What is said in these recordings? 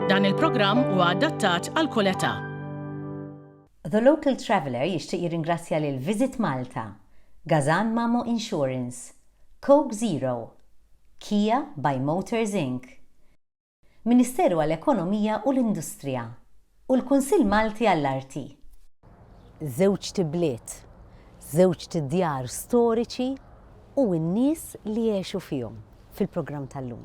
Dan il-programm huwa adattat għal kull età. The Local Traveller jixtieq jirringrazzja lil Visit Malta, Gazan Mamo Insurance, Coke Zero, Kia by Motors Inc. Ministeru għall-Ekonomija u l-Industrija. u l-Kunsill Malti għall-Arti. Żewġt ibliet, żewġt djar storiċi u n-nies li għexu fihom fil-programm tal-lum.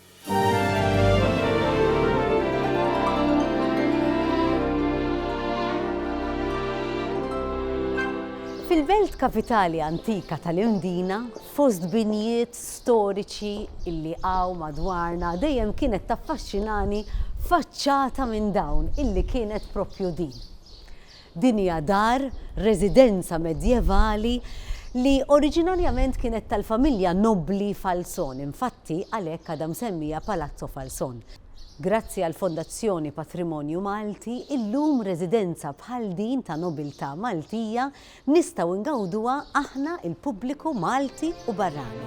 Fil-belt kapitali antika tal-Irndina, fost binjiet storiċi illi hawn madwarna dejjem kienet taffaxxinani faċċata minn dawn illi kienet proprju din. Din hija dar residenza medjevali li oriġinarjament kienet tal-familja nobbli Falzon, infatti għalhekk għadha msemmija Palazzo Falzon. Grazzi għall-Fondazzjoni Patrimonju Malti, illum residenza bħal din ta' nobiltà Maltija nistgħu ngawduha aħna il-pubbliku Malti u barrani.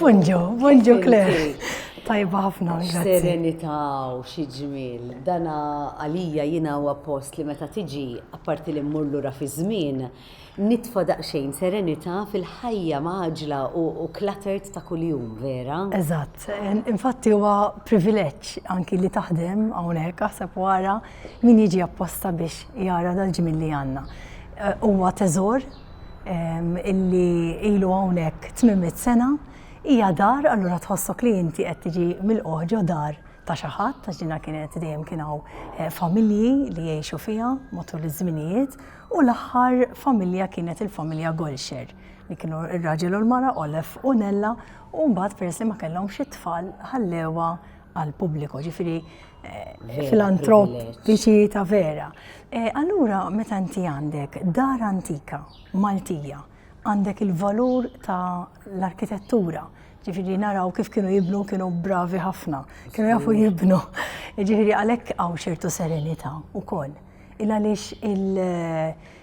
Bonġo, bonġo Claire. Tajba ħafna, grazzi. Serenità u xi ġmiel. Dana għalija jiena huwa post li meta tiġi apparti li mmur lura fi żmien, nitfa' daqsxejn serenità fil-ħajja maġla u cluttered ta' kuljum, vera? Eżatt. Infatti huwa privileġġ anki li taħdem hawnhekk aħseb wara min jiġi apposta biex jara dal-ġmiel li għandna. Eh, huwa teżor illi ilu hawnhekk tmiemit sena hija dar allura tħossok li inti qed tiġi milquħ ġo dar ta' xi ħadd għax dinha kienet dejjem kien hawn eh, familji li jgħixu fiha matul iż-żminijiet u l-aħħar familja kienet il-familja Golxer li kienu ir-raġel u l-mara Olef u Nella u mbagħad peress li ma kellhomx it-tfal ħallewa għal pubbliku ġifieri filantrop biex ta' vera. E, allura, meta inti għandek dar antika Maltija, għandek il-valur ta' l-arkitettura, ġifiri naraw kif kienu jibnu kienu bravi ħafna, kienu jafu jibnu. Ġifiri għalek għaw ċertu serenita u koll. Il-għalix il-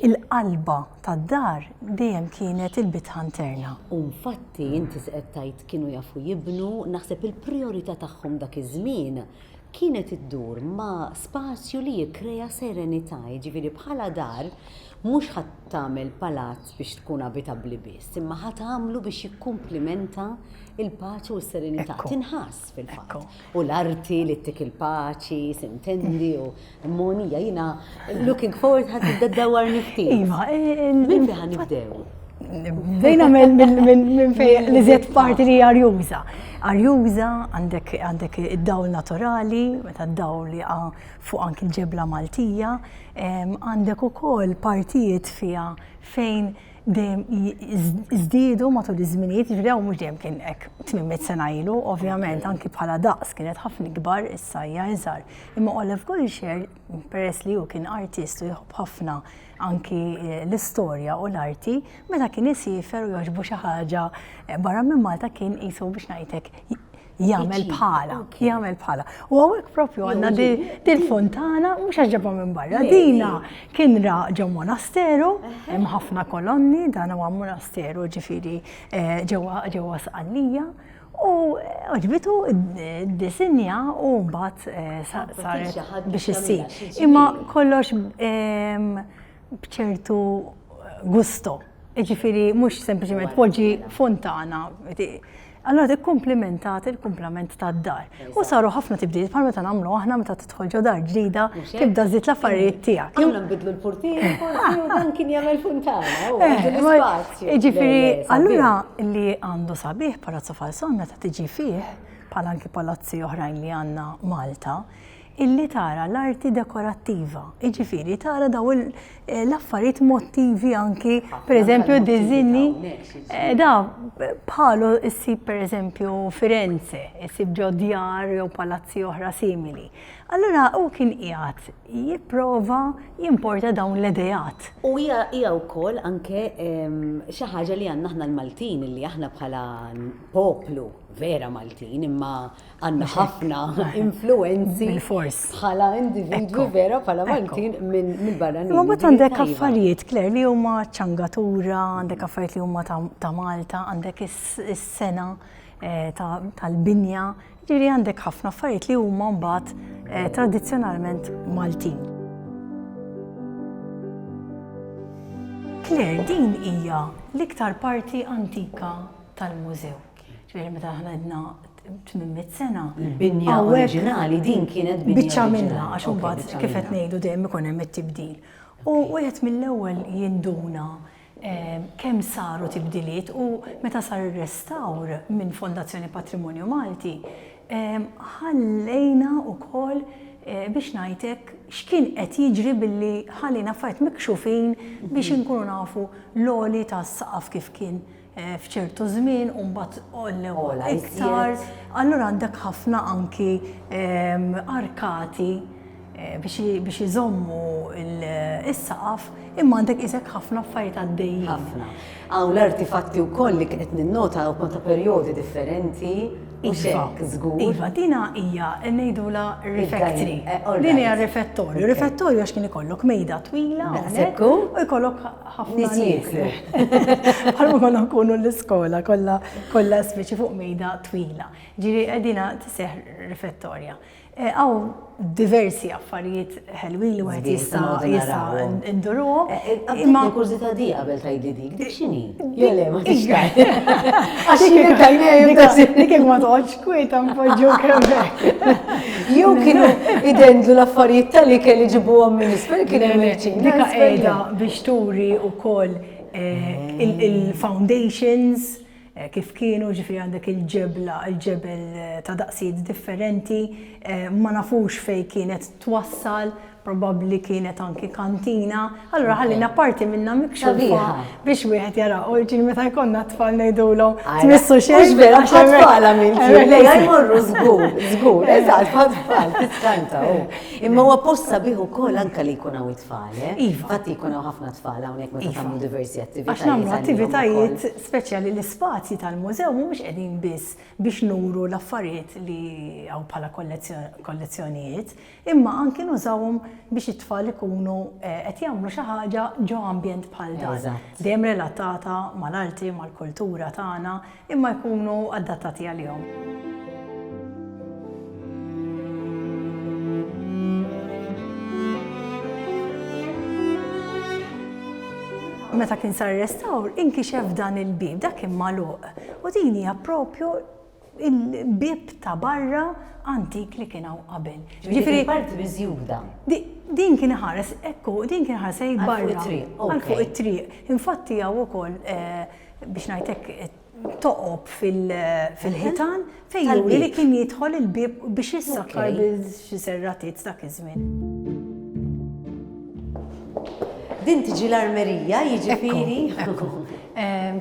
il-qalba tad-dar dejjem kienet il-bitħa interna. U infatti inti qed tgħid kienu jafu jibnu, naħseb il-prijorità tagħhom dak iż-żmien kienet iddur ma' spazju li jikkrea serenità, jiġifieri bħala dar mhux ħadd tagħmel palazz biex tkun abitabbli biss, imma ħadd għamlu biex jikkumplimenta il-paċi u s-serenità. Tinħass. fil-fatt. U l-arti li ttik il-paċi, sintendi u monija jina looking forward ħad tibda dawar nifti. Iva, minn li ħan nibdew. Bdejna minn fej li zjed parti li arjuża. Arjuża għandek id-dawl naturali, meta d-dawl li fuq anki l-ġebla Maltija, għandek ukoll partijiet fija fejn dejjem żdiedu matul iż-żminijiet, jiġri hawn mhux dejjem kien hekk 800 sena ilu, ovvjament anki bħala daqs kienet ħafna ikbar issa hija iżgħar. Imma Olaf Goischer, peress li hu kien artist u jħobb ħafna anki eh, l-istorja u l-arti, meta kien isifer u jogħġbu xi ħaġa eh, barra minn Malta kien qisu biex ngħidlek jagħmel bħala, jagħmel bħala. U għawek propju għanna dil-fontana, mux għagġabba minn barra, dina kien ra ġew monasteru, hemm ħafna kolonni, dan huwa monasteru ġifiri eh, ġewwa ġewwa sqallija. U għagħbitu eh, d-disinja u mbagħad eh, saret biex issir. Imma kollox ehm, bċertu gusto. Ġifiri, mux sempliciment poġi fontana, Allura dik komplimentat il-kumplament tad-dar. U saru ħafna tibdil bħal meta nagħmlu aħna meta tidħol ġo dar ġdida, tibda żid l-affarijiet tiegħek. Aħna nbidlu l-portier, dan kien jagħmel funtana, u eh, l-ispazju. Jiġifieri, allura li għandu sabiħ Palazzo Falson meta tiġi fih, bħal anki palazzi oħrajn li għandna Malta, illi tara l-arti dekorattiva, jiġifieri tara daw l-affarijiet mottivi anki pereżempju diżinji eh, da bħalu issib pereżempju Firenze, issib ġo djar jew palazzi oħra simili. Allura u kien qiegħed jipprova jimporta dawn l-idejat. U hija hija wkoll anke xi ħaġa li għandna aħna l-Maltin li aħna bħala poplu vera Maltin imma għanna ħafna influenzi bħala individwi vera bħala Maltin minn barra Ma bat għandek affarijiet, Kler, li huma ċangatura, għandek affarijiet li huma ta' Malta, għandek is-sena eh, tal-binja, ġiri għandek ħafna affarijiet li huma mbagħad eh, tradizzjonalment Maltin. Kler, din hija l-iktar parti antika tal-mużew. Ġifieri meta aħna għedna 800 sena. Il-binja oriġinali din kienet binja. Biċċa minna għax imbagħad kif qed ngħidu dejjem ikun hemm it-tibdil. U wieħed mill-ewwel jinduna eh, kemm saru tibdiliet u meta sar ir-restawr minn Fondazzjoni Patrimonju Malti, eh, ħallejna wkoll eh, biex ngħidlek x'kien qed jiġri billi ħallina fajt mikxufin biex inkunu nafu l-oli tas-saqaf kif kien eh, f'ċertu żmien u mbagħad għollew iktar. Allura għandek ħafna anki ehm, arkati eh, biex iżommu il-saqaf imma għandek isek ħafna affarijiet għaddejjin. Ħafna. Għaw l-artifatti u koll li kienet ninnota u konta periodi differenti. Iva, zgur. Iva, dina hija ngħidula refectory. Eh, din hija refettorju. Refettorju għax kien ikollok mejda twila, u jkollok ħafna nies. Bħal ma konna nkunu l-iskola kollha kollha spiċi fuq mejda twila. Ġiri qegħdina tiseħ rifettorja. Għaw e, diversi affarijiet ħelwin li wieħed jista' jista' nduruhom. E, e, imma kużita di qabel tgħidli dik, dik x'inhi? Jelle ma tixtaq. Għax jien tajjeb dik ma toħodx Kwieta npoġġuk hemmhekk. Jew kienu idendlu l-affarijiet tal-li kelli ġibuhom minn isfel kien hemm il-ċin. Dik qiegħda biex turi wkoll eh, il-foundations eh, kif kienu ġifri għandek il-ġebla, il-ġebel eh, ta' daqsijiet differenti, ma nafux fej kienet twassal, probabbli kienet anki kantina, allura ħallina parti minnha mikxufa biex wieħed jara. U ġin meta jkollna tfal ngħidulhom tmissu xejn. Mhux vera xejn tfala minn kien lejha jmorru żgur, żgur, eżatt ma tfal tiskanta hu. Imma huwa posta bih ukoll anke li jkun hawn it-tfal. Eh? Iva. Fatt jkun hawn ħafna tfal hawnhekk meta iva. tagħmlu diversi attivitajiet. Għax nagħmlu attivitajiet speċjali l-ispazji tal-mużew mhumiex qegħdin biss biex nuru l-affarijiet li hawn bħala kollezzjonijiet, Imma anki nużawhom biex it-tfal ikunu qed jagħmlu xi ħaġa ġo ambjent bħal dan, dejjem relatata mal-arti, mal-kultura tagħna, imma jkunu adattati għalihom. Meta kien sar restawr, inkixef dan il-bieb, dak kien magħluq. U din hija proprju il-bieb ta' barra antik li kien hawn qabel. Ġifieri parti miżjuda. Din kien ħares, ekku, din kien ħares ej barra. Għal fuq it-triq. Infatti hawn ukoll eh, biex ngħidlek eh, toqob fil-ħitan fejn juri li kien jidħol il-bieb biex jissakkar bil xi serratiet dak iż-żmien. Din tiġi l-armerija, jiġifieri.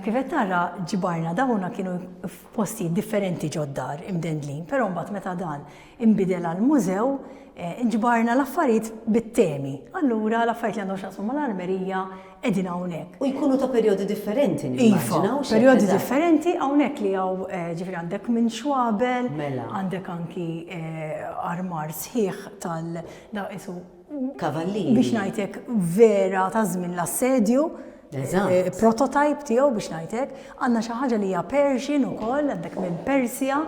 Kifet tara ġibarna dawna kienu f'postijiet differenti ġod-dar imdendlin, però mbagħad meta dan inbidel għal mużew, ġbarna l-affarijiet bit-temi. Allura l-affarijiet li għandhom x'jaqsmu mal-armerija qegħdin hawnhekk. U jkunu ta' perjodi differenti nimmaġina. Iva, perjodi differenti hawnhekk li hawn ġifieri għandek minn xwabel, mela. għandek anki armar sħiħ tal-daqs isu. Kavallini. Biex ngħidlek vera ta' żmien l-assedju. Eżatt. Prototype tiegħu biex ngħidlek. Għandna xi ħaġa li hija Persian ukoll, għandek minn Persja.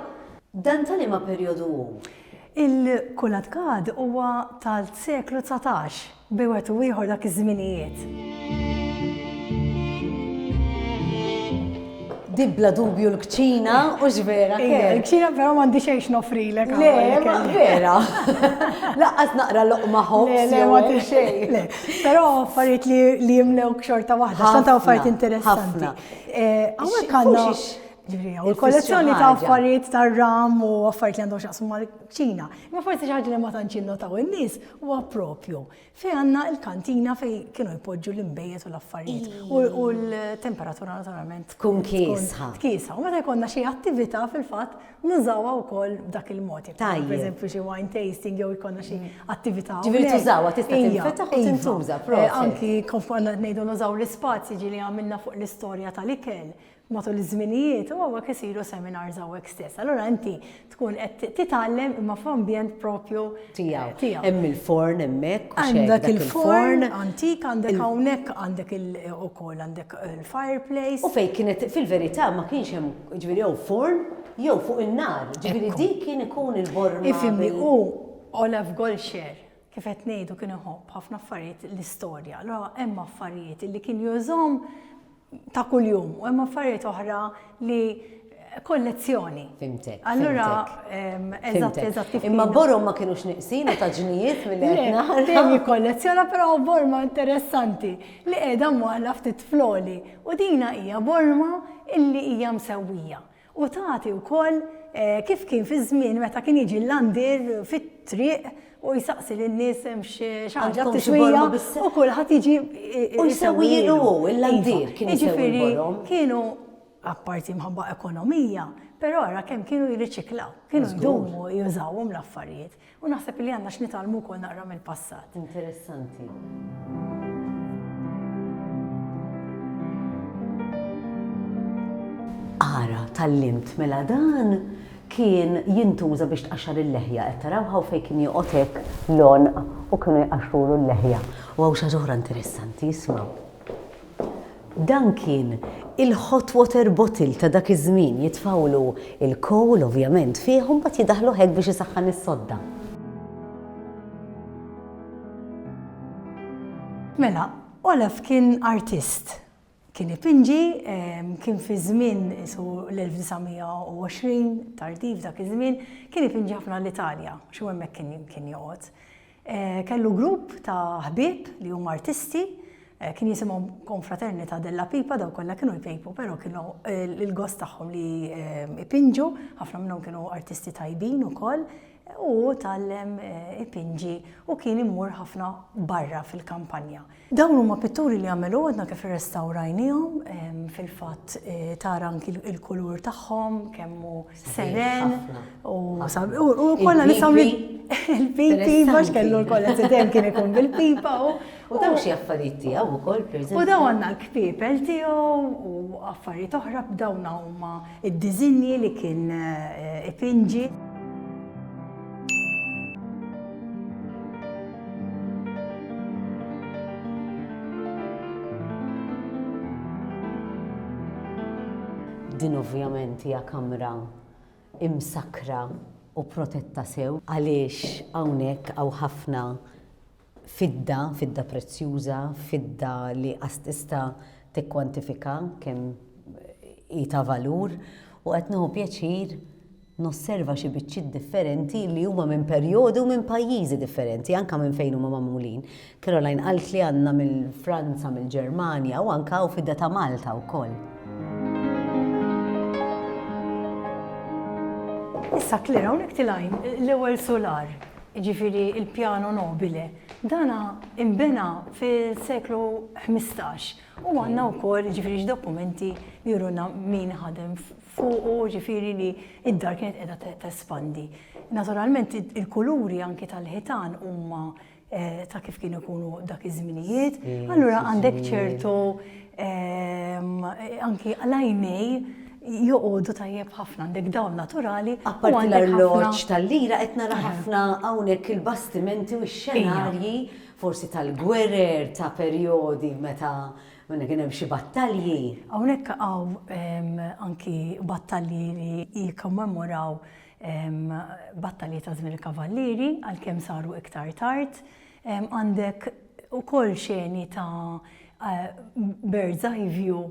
Dan ta' liema perjodu hu? Il-Kulatkad huwa tal-seklu dsatax, bejn wieħed u ieħor dak iż-żminijiet. Di bla dubju l-kċina, u x'vera. Ija, l-kċina però m'għandi xejn x'nofrilek. Le, ma vera. Laqqas naqra loqma ħobb. Le, le, ma xejn. Però affarijiet li jimlew xorta waħda, xorta affarijiet interessanti. Hawnhekk għandna U l-kollezzjoni ta' affarijiet ta' ram u affarijiet li għandhom xaqsmu mal-ċina. Ma forsi xi ħaġa li ma tantx innotaw in-nies huwa propju Fejn għandna l-kantina fejn kienu jpoġġu l-imbejjed u l-affarijiet u l-temperatura naturalment tkun kiesħa. Kiesħa. U meta jkollna xi attività fil-fatt nużawha wkoll b'dak il-mod. Tajjeb. Per eżempju xi wine tasting jew jkollna xi mm. attività. Ġifieri tużawha tista' tinfetaħ u tintuża. Eh, anki konf ngħidu nużaw l-ispazji ġieli għamilna fuq l-istorja tal-ikel matul iż-żminijiet u hawnhekk isiru seminars hawnhekk stess. Allura inti tkun qed titgħallem imma f'ambjent propju tiegħu. Tiegħu. Hemm il-forn hemmhekk. Għandek il-forn antik, għandek hawnhekk għandek ukoll għandek eh, il-fireplace. U fejn kienet fil-verità ma kienx hemm ġifieri jew forn jew fuq in-nar, ġifieri dik kien ikun il-borma. Ifimni u Olaf Golxer kif qed ngħidu kien iħobb ħafna affarijiet l-istorja. Allura hemm affarijiet li kien jużhom ta' kuljum u hemm affarijiet oħra li kollezzjoni. Fimtek. Allura, eżatt, eżatt. Imma borom ma kienux niqsin ta' ġnijiet mill-għedna. Dejjem jikkollezzjona, però borma interessanti li qiegħda mwaqla ftit floli. U dina hija borma illi hija msewwija. U tagħti wkoll kif kien fiż-żmien meta kien jiġi l-għandir fit-triq u jsaqsi lin-nies hemm xi ħaġa tixwija u kulħadd jiġi u jsewwi jilu hu l-għandir kien jiġifieri kienu apparti mħabba ekonomija, però ara kemm kienu jirriċiklaw, kienu jdumu jużawhom l-affarijiet. U naħseb li għandna x'nitgħallmu wkoll naqra mill-passat. Interessanti. Ara, tallimt, mela dan kien jintuża biex tqaxxar il-leħja, qed taraw ħaw fejn kien joqgħod hekk lon u kienu jqaxxrulu l-leħja. U hawn xi oħra interessanti, isma'. Dan kien il-hot water bottle ta' dak iż-żmien, jitfgħulu l-coal ovvjament fih u mbagħad jidaħħlu hekk biex isaħħan is-sodda. Mela, Olaf kien artist. Kien ipinġi, kien fi żmien qisu l-1920 tardiv dak iż-żmien, kien ipinġi ħafna l-Italja, għax hu hemmhekk kien joqgħod. Kellu grupp ta' ħbieb li huma artisti, kien jisimhom Confraternita della Pipa, dawk kollha kienu jpejpu, però kienu l-gost tagħhom li jpinġu, ħafna minnhom kienu artisti tajbin ukoll, u hu tgħallem ipinġi u kien imur ħafna barra fil-kampanja. Dawn huma pitturi li għamel hu għadna kif irrestawrajniehom, fil-fatt tara anki l-kulur tagħhom kemm hu seren u kollha nistgħu il-pipi bax kellu l-kollha tidem kien ikun bil-pipa u u dawn xi affarijiet tiegħu wkoll U dawn għandna l-kpipel tiegħu u affarijiet oħra b'dawn huma Id-diżinji li kien ipinġi. Din ovvjament hija kamra imsakkra u protetta sew għaliex hawnhekk hawn ħafna fidda, fidda prezzjuża, fidda li qas tista' tikkwantifika kemm hi ta' valur, u qed nieħu pjaċir nosserva xi biċċiet differenti li huma minn perjodi u minn pajjiżi differenti, anke minn fejn huma magħmulin. Caroline qalt li għandna mill-Franza, mill-Ġermanja u anke hawn fidda ta' Malta wkoll. Issa Claire, hawnhekk tilgħin l-ewwel sular. jiġifieri l-Piano Nobile, dan inbena fis-seklu ħmistax u għandna wkoll jiġifieri x-dokumenti li juruna min ħadem fuqu, jiġifieri li d-dar kienet qiegħda tespandi. Naturalment il-kuluri anki tal-ħitan huma ta' kif kienu jkunu dak iż-żminijiet, allura għandek ċertu anki l-għajnej joqogħdu tajjeb ħafna għandek dawl naturali. Apparti l-arloġġ tal-lira qed nara ħafna hawnhekk il-bastimenti u x-xenarji forsi tal-gwerer ta' perjodi meta minna kien hemm xi battalji. Hawnhekk hawn anki battalji li jikkommemoraw battalji ta' żmien il-kavallieri għalkemm saru iktar tard. Għandek ukoll xeni ta' bird's eye view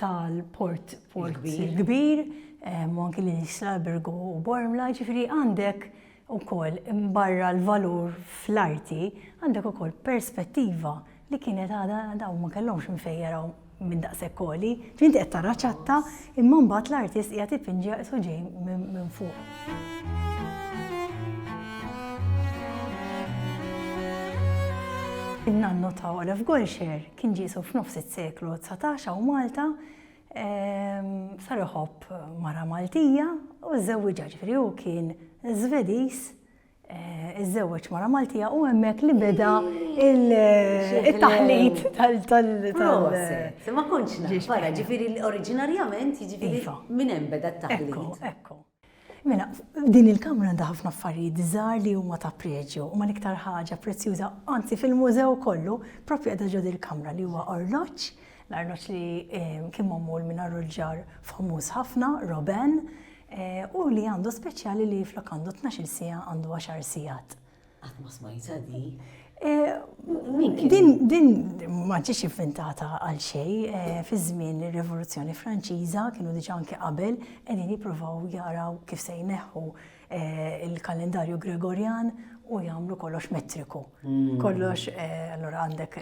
tal-port il-kbir u anki lil Islalberg u Bormla, ġifieri għandek ukoll barra l-valur fl-arti, għandek ukoll perspettiva li kienet għadha dawn ma kellhomx minn fejn jaraw minn daqshekk għoli, ġifieri inti qed tara ċatta imma mbagħad l-artist qiegħed ipinġiha qisu ġej minn fuq. In-nannu ta' Olaf Golscher kien ġiesu f'nofs is-seklu 19 hawn Malta ehm, sar iħobb mara Maltija u żewwiġha ġifieri hu kien Żvediż Iżżewweġ mara Maltija u hemmhekk li beda il-taħlit tal tal Ma kontx naf, wara ġifieri oriġinarjament jiġifieri iva. minn hemm beda t-taħlit. Ekku. Mela, din il-kamra għandha ħafna affarijiet żgħar li huma ta' preġju, huma l-iktar ħaġa prezzjuża, anzi fil-mużew kollu, propju qiegħda ġod il-kamra li huwa orloġġ, l-arloġġ li eh, kien magħmul minn arruġġar famuż ħafna, Roben, Hu li għandu speċjali li flok għandu tnax-il siegħa għandu għaxar sigħat. Qatt ma smajta di. Din din ma ġiex inventata għal xej, fi żmien ir-Rivoluzzjoni Franċiża kienu diġà anke qabel qegħdin jippruvaw jaraw kif se jneħħu il-kalendarju Gregorjan u jagħmlu kollox metriku. Kollox allura għandek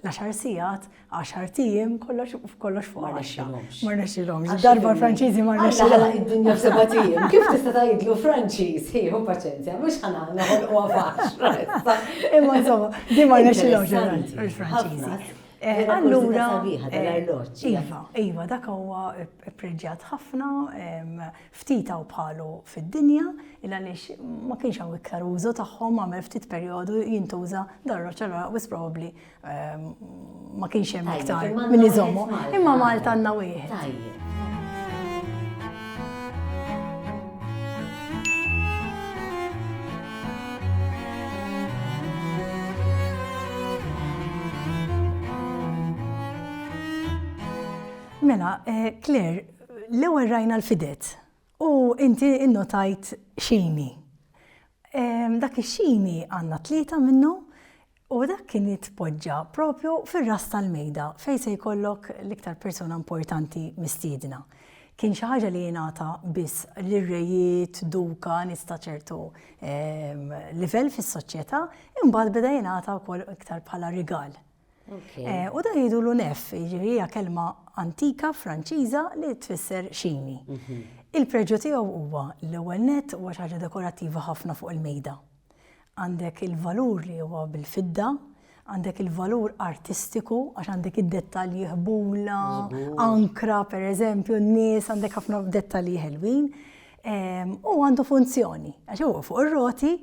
l-għaxar sigħat, għaxar tijiem, kollox kollox fuq għaxra. Ma rnexxilhomx. Darba Franċiżi ma rnexxilhomx. Għaxra id-dinja seba' tijiem. Kif tista' tgħidlu Franċiż, ħieħu paċenzja, mhux ħana noħolqu faċra. Imma insomma, di ma rnexxilhomx il-Franċiżi. Eh, allura, eh, iva, iva, dak huwa preġġat ħafna, Ftit hawn bħalu fid-dinja, il għaliex ma kienx hawn iktar użu tagħhom għamel ftit perjodu jintuża dan roċ allura wis probabbli ehm, ma kienx hemm iktar min iżommu. Imma Malta għandna wieħed. Mela, eh, Claire, L-ewwel rajna l-fidet u inti innotajt xini. Dak ix-xini għandna tlieta minnu u dak kien jitpoġġa propju fir-ras tal-mejda fejn se jkollok l-iktar persuna importanti mistiedna. Kien xi ħaġa li jingħata biss lir-rejiet, duka, nies ta' ċertu livell fis-soċjetà, imbagħad beda jingħata wkoll iktar bħala rigal Eh, u da jidu l-unef, jiġifieri hija kelma antika Franċiża li tfisser xini. Mhm. Il-preġu tiegħu huwa l-ewwel net huwa xi ħaġa dekorattiva ħafna fuq il-mejda. Għandek il-valur li huwa bil-fidda, għandek il-valur artistiku, għax għandek id-dettalji ħbula, ankra per eżempju, n-nies għandek ħafna dettalji ħelwin. Ehm, u għandu funzjoni, għax huwa fuq ir-roti,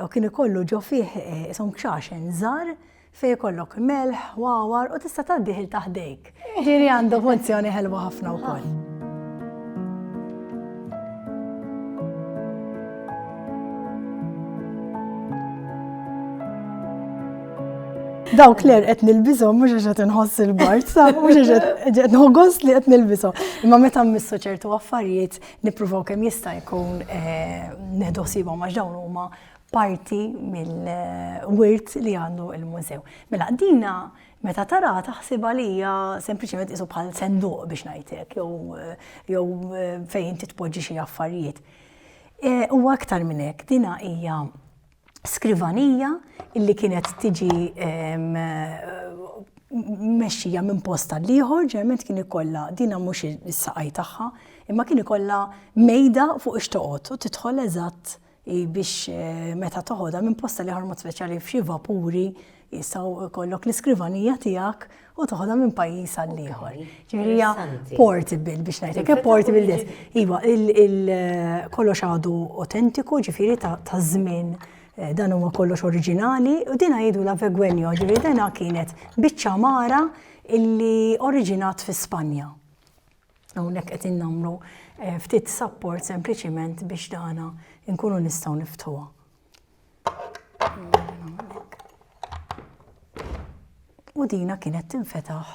u kien ikollu ġo fih eh, isom kxaxen żar Se jkollok melħ, wawar u tista' tgħaddih il taħdejk. Ġieri għandu funzjoni ħelwa ħafna wkoll. Daw kler qed nilbishom mhux għax qed inħoss il-bart, sa mhux għax qed nħoggos li qed nilbishom. Imma meta mmissu ċertu affarijiet nippruvaw kemm jista' jkun eh, neħdu sibhom għax dawn huma parti mill-wirt li għandu l-mużew. Mela dina meta tara taħsibha li hija sempliċement qisu bħal senduq biex ngħidlek jew fejn inti tpoġġi xi affarijiet. U aktar minn hekk, dina hija skrivanija li kienet tiġi mexxija minn post għal ieħor, ġeneralment kien ikollha dina mhux is-saqaj tagħha, imma kien ikollha mejda fuq ix-xtoqgħod u tidħol eżatt hi biex meta toħodha minn posta li ħormod speċjali f'xi vapuri jistgħu kollok l-iskrivanija tiegħek u toħodha minn pajjiż għal ieħor. Ġifieri portable biex ngħidlek, eh, portable des. Iva, kollox għadu autentiku, ġifieri ta' żmien eh, dan huwa kollox oriġinali u din jgħidu la vegwenjo, ġifieri dena kienet biċċa mara illi oriġinat fi Spanja. Hawnhekk qegħdin nagħmlu ftit support sempliċiment biex dana nkunu nistgħu niftuha. U dina kienet tinfetaħ.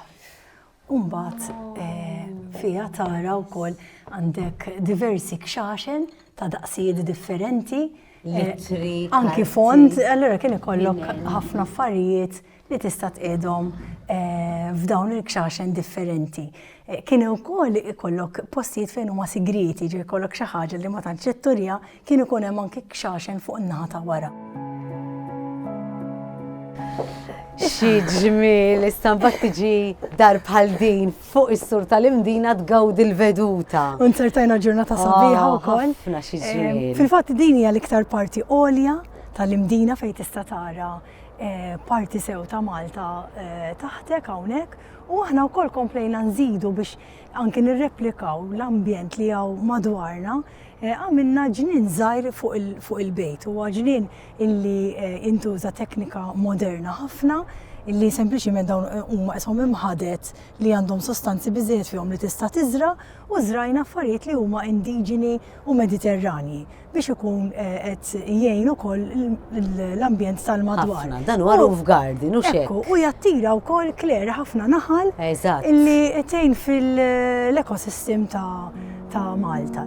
Umbat eh, fija tara u koll għandek diversi kxaxen ta' daqsijiet differenti. Eh, anki font, allora kien ikollok ħafna affarijiet li tista' tqiegħdhom f'dawn il-kxaxen differenti. Kien ukoll ikollok postijiet fejn huma sigrieti, ġej ikollok xi ħaġa li ma tantx itturja, kien ikun hemm anke kxaxen fuq in-naħa ta' wara. Xi ġmiel istampa tiġi dar bħal din fuq is-sur tal-imdina tgawdi l-veduta. Unzertajna ġurnata sabiħa ah, wkoll. Fil-fatt din hija l-iktar parti għolja tal-imdina fejn tista' tara Eh, parti sew ta' Malta eh, taħtek hawnhekk u aħna wkoll komplejna nżidu biex anki nirreplikaw l-ambjent li għaw madwarna eh, għamilna ġnien żgħir fuq il-bejt u ġnien illi intuża teknika moderna ħafna illi sempliċiment dawn huma qishom imħadet li għandhom sostanzi biżejjed fihom li tista' tiżra u żrajna affarijiet li huma indiġeni u mediterranji. biex ikun qed jgħin ukoll l-ambjent tal-madwar. Ħafna, dan huwa roof garden, u xek. U jattira wkoll kler ħafna naħal li tgħin fil-ekosistem ta' Malta.